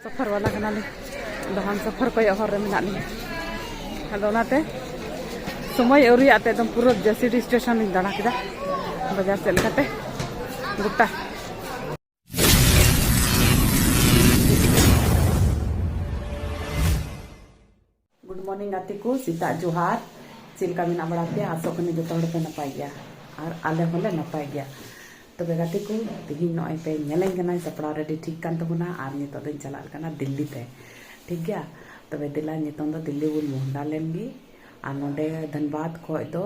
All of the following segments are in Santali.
ᱥᱚᱯᱷᱚᱨ ᱵᱟᱞᱟ ᱠᱟᱱᱟᱞᱤᱧ ᱫᱚᱦᱟᱱ ᱥᱚᱯᱷᱚᱨ ᱠᱚᱭᱚᱜ ᱦᱚᱨ ᱨᱮ ᱢᱮᱱᱟᱜ ᱞᱤᱧᱟ ᱟᱫᱚ ᱚᱱᱟᱛᱮ ᱥᱚᱢᱚᱭ ᱟᱹᱣᱨᱤᱭᱟᱜ ᱛᱮ ᱮᱠᱫᱚᱢ ᱯᱩᱨᱟᱹ ᱡᱟᱹᱥᱤᱰᱤ ᱥᱴᱮᱥᱚᱱ ᱞᱤᱧ ᱫᱟᱬᱟ ᱠᱮᱫᱟ ᱵᱟᱡᱟᱨ ᱥᱮᱫ ᱞᱮᱠᱟᱛᱮ ᱜᱚᱴᱟ ᱜᱩᱰ ᱢᱚᱨᱱᱤᱝ ᱜᱟᱛᱮ ᱠᱚ ᱥᱮᱛᱟᱜ ᱡᱚᱦᱟᱨ ᱪᱮᱫ ᱞᱮᱠᱟ ᱢᱮᱱᱟᱜ ᱵᱟᱲᱟ ᱯᱮᱭᱟ ᱟᱥᱚᱜ ᱠᱟᱹᱱᱟᱹᱧ ᱡᱚᱛᱚ ᱦᱚᱲ ᱯᱮ ᱱᱟᱯᱟᱭ ᱜᱮᱭᱟ ᱟᱨ ᱟᱞᱮ ᱦᱚᱸᱞᱮ ᱱᱟᱯᱟᱭ ᱜᱮᱭᱟ ᱛᱚᱵᱮ ᱜᱟᱛᱮ ᱠᱚ ᱛᱮᱦᱮᱧ ᱱᱚᱜᱼᱚᱭ ᱯᱮ ᱧᱮᱞᱮᱧ ᱠᱟᱱᱟ ᱥᱟᱯᱲᱟᱣ ᱨᱮᱰᱤ ᱴᱷᱤᱠ ᱠᱟᱱ ᱛᱟᱵᱚᱱᱟ ᱟᱨ ᱱᱤᱛᱚᱜ ᱫᱚᱧ ᱪᱟᱞᱟᱜ ᱠᱟᱱᱟ ᱫᱤᱞᱞᱤ ᱛᱮ ᱴᱷᱤᱠ ᱜᱮᱭᱟ ᱛᱚᱵᱮ ᱫᱮᱞᱟ ᱱᱤᱛᱚᱝ ᱫᱚ ᱫᱤᱞᱞᱤ ᱵᱚᱱ ᱢᱚᱦᱰᱟ ᱞᱮᱱ ᱜᱮ ᱟᱨ ᱱᱚᱰᱮ ᱫᱷᱟᱱᱵᱟᱫᱽ ᱠᱷᱚᱡ ᱫᱚ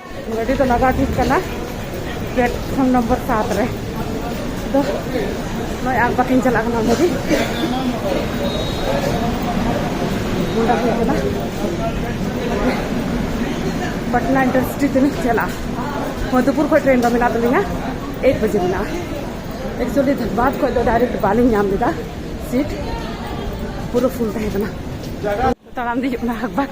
ᱜᱟᱹᱰᱤ ᱫᱚ ᱞᱟᱜᱟᱣ ᱴᱷᱤᱠ ᱠᱟᱱᱟ ᱯᱞᱮᱴᱯᱷᱚᱨᱢ ᱱᱚᱢᱵᱚᱨ ᱥᱟᱛ ᱨᱮ ᱫᱚ ᱱᱚᱜᱼᱚᱭ ᱟᱨ ᱵᱟᱹᱠᱤᱱ ᱪᱟᱞᱟᱜ ᱠᱟᱱᱟ ᱜᱟᱹᱰᱤ ᱱᱚᱰᱮ ᱦᱩᱭᱩᱜ ᱠᱟᱱᱟ ᱯᱟᱴᱱᱟ ᱤᱱᱰᱟᱥᱴᱨᱤ ᱛᱮᱞᱤᱧ ᱪᱟᱞᱟᱜᱼᱟ ᱢᱚᱫᱷᱩᱯᱩᱨ ᱠᱷᱚᱱ ᱴᱨᱮᱱ ᱫᱚ ᱢᱮᱱᱟᱜ ᱛᱟᱹᱞᱤᱧᱟ ᱮᱭᱤᱴ ᱵᱟᱡᱮ ᱢᱮᱱᱟᱜᱼᱟ ᱮᱠᱪᱩᱭᱮᱞᱤ ᱫᱷᱟᱱᱵᱟᱫᱽ ᱠᱷᱚᱱ ᱫᱚ ᱰᱟᱭᱨᱮᱠᱴ ᱵᱟᱹᱞᱤᱧ ᱧᱟᱢ ᱞᱮᱫᱟ ᱥᱤᱴ ᱯᱩᱨᱟᱹ ᱯᱷᱩᱞ ᱛᱟᱦᱮᱸ ᱠᱟᱱᱟ ᱛᱟᱲᱟᱢ ᱫᱮᱡᱚᱜ ᱠᱟᱱᱟ ᱦᱟᱠᱵᱟᱠ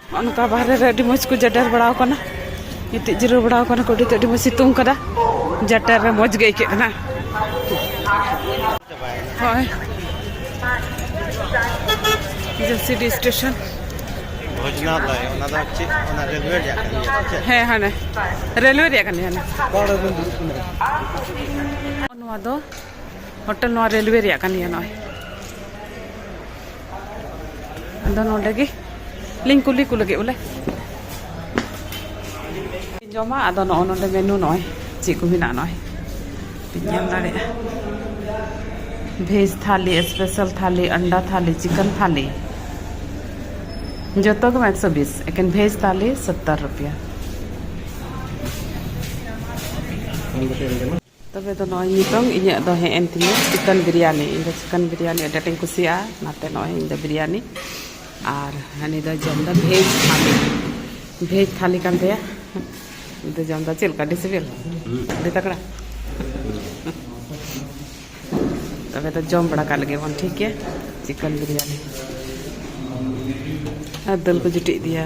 ᱚᱱᱠᱟ ᱵᱟᱦᱨᱮ ᱨᱮ ᱟᱹᱰᱤ ᱢᱚᱡᱽ ᱠᱚ ᱡᱟᱰᱮᱨ ᱵᱟᱲᱟ ᱟᱠᱟᱱᱟ ᱜᱤᱛᱤᱡ ᱡᱤᱨᱟᱹᱣ ᱵᱟᱲᱟ ᱟᱠᱟᱱᱟ ᱠᱚ ᱟᱹᱰᱤ ᱛᱮᱫ ᱟᱹᱰᱤ ᱢᱚᱡᱽ ᱥᱤᱛᱩᱝ ᱠᱟᱫᱟ ᱡᱟᱴᱮᱨ ᱨᱮ ᱢᱚᱡᱽ ᱜᱮ ᱟᱹᱭᱠᱟᱹᱜ ᱠᱟᱱᱟ ᱦᱳᱭ ᱡᱮᱥᱤᱰᱤ ᱥᱴᱮᱥᱚᱱ ᱵᱷᱚᱡᱽᱱᱟᱞᱚᱭ ᱚᱱᱟ ᱫᱚ ᱪᱮᱫ ᱚᱱᱟ ᱨᱮᱞᱣᱮ ᱨᱮᱭᱟᱜ ᱠᱟᱱ ᱜᱮᱭᱟ ᱪᱮᱫ ᱦᱮᱸ ᱦᱟᱱᱮ ᱨᱮᱞᱣᱮ ᱨᱮᱭᱟᱜ ᱠᱟᱱ ᱜᱮᱭᱟ ᱱᱚᱣᱟ ᱫᱚ ᱦᱳᱴᱮᱞ ᱱᱚᱣᱟ ᱨᱮᱞᱣᱮ ᱨᱮᱭᱟᱜ ᱠᱟᱱ ᱜᱮᱭᱟ ᱱᱚᱜᱼᱚᱭ ᱟᱫᱚ ᱱᱚᱰᱮ ᱜᱮ ᱞᱤᱧ ᱠᱩᱞᱤ ᱠᱚ ᱞᱟᱹᱜᱤᱫ ᱵᱚᱞᱮ ᱡᱚᱢᱟ ᱟᱫᱚ ᱱᱚᱜᱼᱚ ᱱᱚᱰᱮ ᱢᱮᱱᱩ ᱱᱚᱜᱼᱚᱭ ᱪᱮᱫ ᱠᱚ ᱢᱮᱱᱟᱜᱼᱟ ᱱᱚᱜᱼᱚᱭ ᱵᱤᱱ ᱧᱮᱞ ᱫᱟᱲᱮᱭᱟᱜᱼᱟ ᱵᱷᱮᱡᱽ ᱛᱷᱟᱞᱤ ᱥᱯᱮᱥᱟᱞ ᱛᱷᱟᱞᱤ ᱟᱱᱰᱟ ᱛᱷᱟᱞᱤ ᱪᱤᱠᱮᱱ ᱛᱷᱟᱞᱤ ᱡᱚᱛᱚ ᱜᱮ ᱮᱠᱥᱚ ᱵᱤᱥ ᱮᱠᱮᱱ ᱵᱷᱮᱡᱽ ᱛᱷᱟᱞᱤ ᱥᱚᱛᱛᱚᱨ ᱨᱩᱯᱤᱭᱟ ᱛᱚᱵᱮ ᱫᱚ ᱱᱚᱜᱼᱚᱭ ᱱᱤᱛᱚᱝ ᱤᱧᱟᱹᱜ ᱫᱚ ᱦᱮᱡ ᱮᱱ ᱛᱤᱧᱟᱹ ᱪᱤᱠᱮᱱ ᱵᱤᱨᱭᱟᱱᱤ ᱤᱧ ᱫᱚ ᱪᱤᱠᱮᱱ ᱵᱤᱨᱭᱟᱱᱤ ᱟᱹᱰᱤ ᱟᱸᱴᱤᱧ ᱠᱩᱥᱤᱭᱟᱜᱼᱟ ᱚᱱᱟᱛᱮ ᱱᱚᱜᱼᱚᱭ ᱤᱧ ᱫᱚ ᱵᱤᱨᱭᱟᱱᱤ ᱟᱨ ᱦᱟᱹᱱᱤ ᱫᱚᱭ ᱡᱚᱢ ᱮᱫᱟ ᱵᱷᱮᱡᱽ ᱛᱷᱟᱹᱞᱤ ᱵᱷᱮᱡᱽ ᱛᱷᱟᱹᱞᱤ ᱠᱟᱱ ᱛᱟᱭᱟ ᱩᱱᱤ ᱫᱚ ᱡᱚᱢ ᱮᱫᱟ ᱪᱮᱫ ᱞᱮᱠᱟ ᱟᱹᱰᱤ ᱥᱤᱵᱤᱞ ᱟᱹᱰᱤ ᱛᱟᱜᱽᱲᱟ ᱛᱚᱵᱮ ᱫᱚ ᱡᱚᱢ ᱵᱟᱲᱟ ᱠᱟᱜ ᱞᱮᱜᱮ ᱵᱚᱱ ᱴᱷᱤᱠ ᱜᱮᱭᱟ ᱪᱤᱠᱮᱱ ᱵᱤᱨᱭᱟᱱᱤ ᱟᱨ ᱫᱟᱹᱞ ᱠᱚ ᱡᱩᱴᱤᱡ ᱤᱫᱤᱭᱟ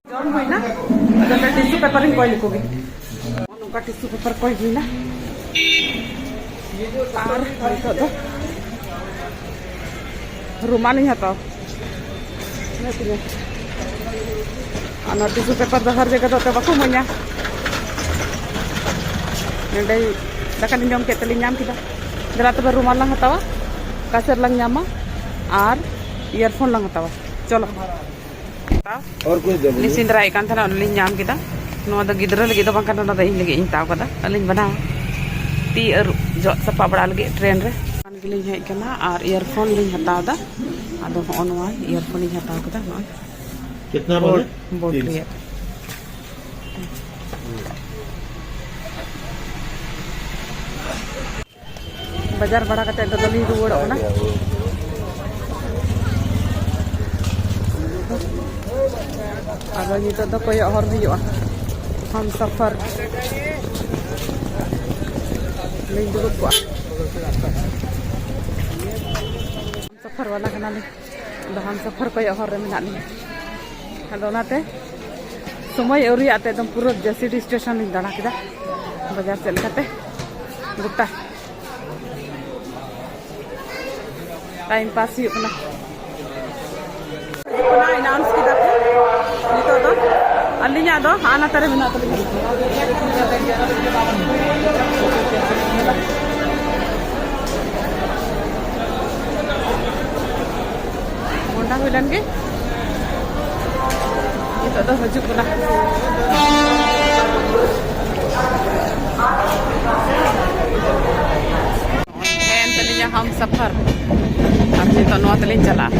ᱡᱚᱢ ᱦᱩᱭᱱᱟ ᱟᱫᱚ ᱱᱚᱰᱮ ᱴᱤᱥᱩ ᱯᱮᱯᱟᱨ ᱤᱧ ᱠᱚᱭ ᱞᱮᱠᱚ ᱜᱮ ᱱᱚᱝᱠᱟ ᱴᱤᱥᱩ ᱯᱮᱯᱟᱨ ᱠᱚᱭ ᱦᱩᱭᱱᱟ ᱟᱨ ᱱᱤᱛᱚᱜ ᱫᱚ ᱨᱩᱢᱟᱞᱤᱧ ᱦᱟᱛᱟᱣ ᱢᱮᱱᱟᱜ ᱛᱤᱧᱟᱹ ᱟᱨ ᱱᱚᱣᱟ ᱴᱤᱥᱩ ᱯᱮᱯᱟᱨ ᱫᱚ ᱦᱟᱨ ᱡᱟᱭᱜᱟ ᱫᱚ ᱮᱱᱛᱮᱫ ᱵᱟᱠᱚ ᱤᱢᱟᱹᱧᱟ ᱱᱚᱰᱮ ᱫᱟᱠᱟ ᱞᱤᱧ ᱡᱚᱢ ᱠᱮᱫ ᱛᱮᱞᱤᱧ ᱧᱟᱢ ᱠᱮᱫᱟ ᱫᱮᱞᱟ ᱛᱚᱵᱮ ᱨᱩᱢᱟᱞ ᱞᱟᱝ ᱦᱟᱛᱟᱣᱟ ᱠᱟᱪᱟᱨ ᱞᱟᱝ ᱧᱟᱢᱟ ᱟᱨ ᱤᱭᱟᱨᱯᱷᱳᱱ ᱞᱟᱝ ᱦᱟᱛᱟᱣᱟ ᱪᱚᱞᱚ ᱞᱤᱧ ᱥᱮᱸᱫᱽᱨᱟᱭᱮᱫ ᱠᱟᱱ ᱛᱟᱦᱮᱱᱟ ᱚᱱᱟ ᱞᱤᱧ ᱧᱟᱢ ᱠᱮᱫᱟ ᱱᱚᱣᱟ ᱫᱚ ᱜᱤᱫᱽᱨᱟᱹ ᱞᱟᱹᱜᱤᱫ ᱫᱚ ᱵᱟᱝ ᱠᱟᱱᱟ ᱚᱱᱟ ᱫᱚ ᱤᱧ ᱞᱟᱹᱜᱤᱫ ᱤᱧ ᱦᱟᱛᱟᱣ ᱠᱟᱫᱟ ᱟᱹᱞᱤᱧ ᱵᱮᱱᱟᱣᱟ ᱛᱤ ᱟᱹᱨᱩᱵ ᱡᱚᱜ ᱥᱟᱯᱟ ᱵᱟᱲᱟ ᱞᱟᱹᱜᱤᱫ ᱴᱨᱮᱱ ᱨᱮ ᱚᱱ ᱜᱮᱞᱤᱧ ᱦᱮᱡ ᱠᱟᱱᱟ ᱟᱨ ᱤᱭᱟᱨᱯᱷᱳᱱ ᱞᱤᱧ ᱦᱟᱛᱟᱣ ᱮᱫᱟ ᱟᱫᱚ ᱦᱚᱸᱜᱼᱚ ᱱᱚᱣᱟ ᱤᱭᱟᱨᱯᱷᱳᱱ ᱤᱧ ᱦᱟᱛᱟᱣ ᱠᱮᱫᱟ ᱱᱚᱜᱼᱚᱭ कितना बोले ᱵᱳᱴ ᱨᱮᱭᱟᱜ ᱵᱟᱡᱟᱨ ᱵᱟᱲᱟ ᱠᱟᱛᱮ ᱫᱚ ᱞᱤᱧ ᱨᱩᱣᱟᱹᱲᱚᱜ ᱠᱟᱱᱟ ᱟᱫᱚ ᱱᱤᱛᱚᱜ ᱫᱚ ᱠᱚᱭᱚᱜ ᱦᱚᱨ ᱦᱩᱭᱩᱜᱼᱟ ᱦᱟᱢ ᱥᱟᱯᱷᱟᱨ ᱞᱤᱧ ᱫᱩᱲᱩᱵ ᱠᱚᱜᱼᱟ ᱥᱟᱯᱷᱟᱨ ᱵᱟᱞᱟ ᱠᱟᱱᱟᱞᱤᱧ ᱫᱟᱦᱟᱱ ᱥᱚᱯᱷᱚᱨ ᱠᱚᱭᱚᱜ ᱦᱚᱨ ᱨᱮ ᱢᱮᱱᱟᱜ ᱞᱤᱧᱟ ᱟᱫᱚ ᱚᱱᱟᱛᱮ ᱥᱚᱢᱚᱭ ᱟᱹᱣᱨᱤᱭᱟᱜ ᱛᱮ ᱮᱠᱫᱚᱢ ᱯᱩᱨᱟᱹ ᱡᱮᱥᱤᱰᱤ ᱥᱴᱮᱥᱚᱱ ᱞᱤᱧ ᱫᱟᱬᱟ ᱠᱮᱫᱟ ᱵᱟᱡᱟᱨ ᱥᱮᱫ ᱞᱮᱠᱟᱛᱮ ᱜᱚᱴᱟ ᱴᱟᱭᱤᱢ ᱯᱟᱥ ᱦᱩᱭᱩᱜ ᱠᱟᱱᱟ ᱮᱱᱟᱣᱩᱱᱥ ᱠᱮᱫᱟ ᱠᱚ ᱱᱤᱛᱚᱜ ᱫᱚ ᱟᱹᱞᱤᱧᱟᱜ ᱫᱚ ᱟᱱᱟᱛᱟ ᱨᱮ ᱢᱮᱱᱟᱜ ᱛᱟᱹᱞᱤᱧᱟ ᱢᱚᱱᱰᱟ ᱦᱩᱭ ᱞᱮᱱ ᱜᱮ ᱱᱤᱛᱚᱜ ᱫᱚ ᱦᱤᱡᱩᱜ ᱠᱟᱱᱟ ᱮᱱ ᱛᱟᱹᱞᱤᱧᱟ ᱦᱟᱢ ᱥᱟᱯᱷᱟᱨ ᱟᱨ ᱱᱤᱛᱚᱜ ᱱᱚᱣᱟ ᱛᱮᱞᱤᱧ ᱪᱟᱞᱟᱜᱼᱟ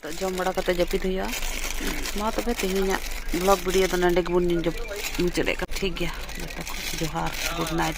ᱱᱤᱛᱚᱜ ᱡᱚᱢ ᱵᱟᱲᱟ ᱠᱟᱛᱮ ᱡᱟᱹᱯᱤᱫ ᱦᱩᱭᱩᱜᱼᱟ ᱢᱟ ᱛᱚᱵᱮ ᱛᱮᱦᱮᱧᱟᱜ ᱵᱞᱚᱜ ᱵᱷᱤᱰᱤᱭᱳ ᱫᱚ ᱱᱚᱰᱮ ᱜᱮᱵᱚᱱ ᱢᱩᱪᱟᱹᱫ ᱮᱫ ᱠᱟᱱᱟ ᱴᱷᱤᱠ ᱜᱮᱭᱟ ᱡᱚᱛᱚ ᱠᱚ ᱡᱚᱦᱟᱨ ᱜᱩᱰ ᱱᱟᱭᱤᱴ